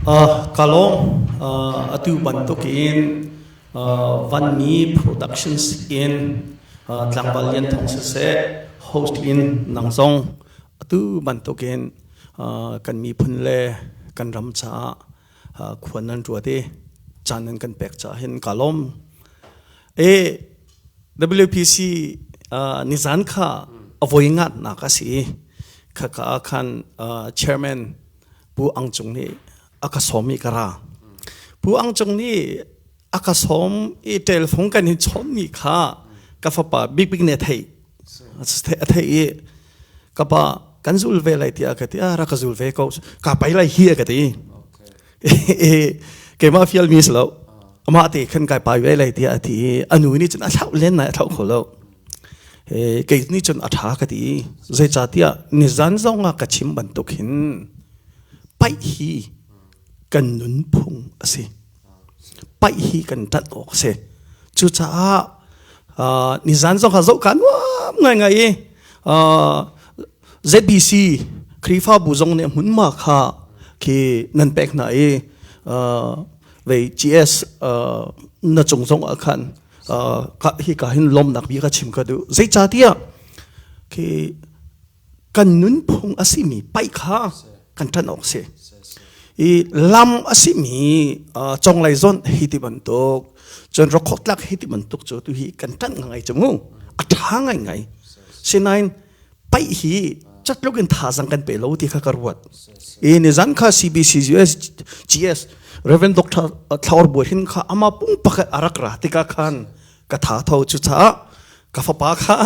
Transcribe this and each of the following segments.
Ka lawng atu bantuk in vanmi production skin tlangval lian thawng siseh host in nang zong atu bantuk in kan miphun le kan ram caah khuan nan ruat i caan nan kan pek caah hin ka lawm. WPC nizan kha a voi ngatnak a si i khaka ah khan chairman Pu Ang Cung nih a ka sawm i ka ra. Pu Ang Cung nih a ka sawm i telfung kan hin chawmmi kha ka fapa Big Big ne thei a thei i ka pa kan zul ve lai tiah ka ti a rak ka zul ve ko ka pai lai hi ka ti keimah fial mi si lo amah te khan kai pai ve lai tiah a ti i a nu nih cun a thlauh len nai a thlauh kho lo kei nih cun a ṭha ka ti. Zeicahtiah nizan zong ah ka chim bantuk hin paih hi kan nunphung a si. Paih hi kan ṭat awk a si. Cucaah uh, nizan zong ah zohka nuam ngaingai i uh, ZBC Khrihfabu zong nih hmunma kha khi nan pek hna i uh, vei GS uh, na cung zong ah khan hi ka hin lomnak bia ka chim ka duh zeicatiah khi kan nunphung a simi pai kha kan ṭan awk si i lam a simi conglei zon hi ti bantuk cun rokhok tlak hi ti bantuk cu tu hi kan ṭan ngai cu mu a ṭha ngai ngai sinain Pai hi chat lokin thazang kan pe lo ti kha ka ruat. E ni zan kha CBC US GS Reverend Dr. Thlaur Bue hin kha ama pung pak arak ra tika khan ka tha tho chu cha ka fapa kha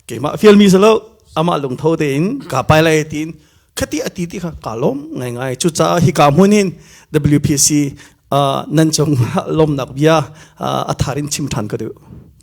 keima fiel mi salo ama lung tho te in ka pai lai tin khati ati ti kha ka lom ngai ngai chu cha hi ka munin WPC nan chung lom nak bia atharin chim than ka du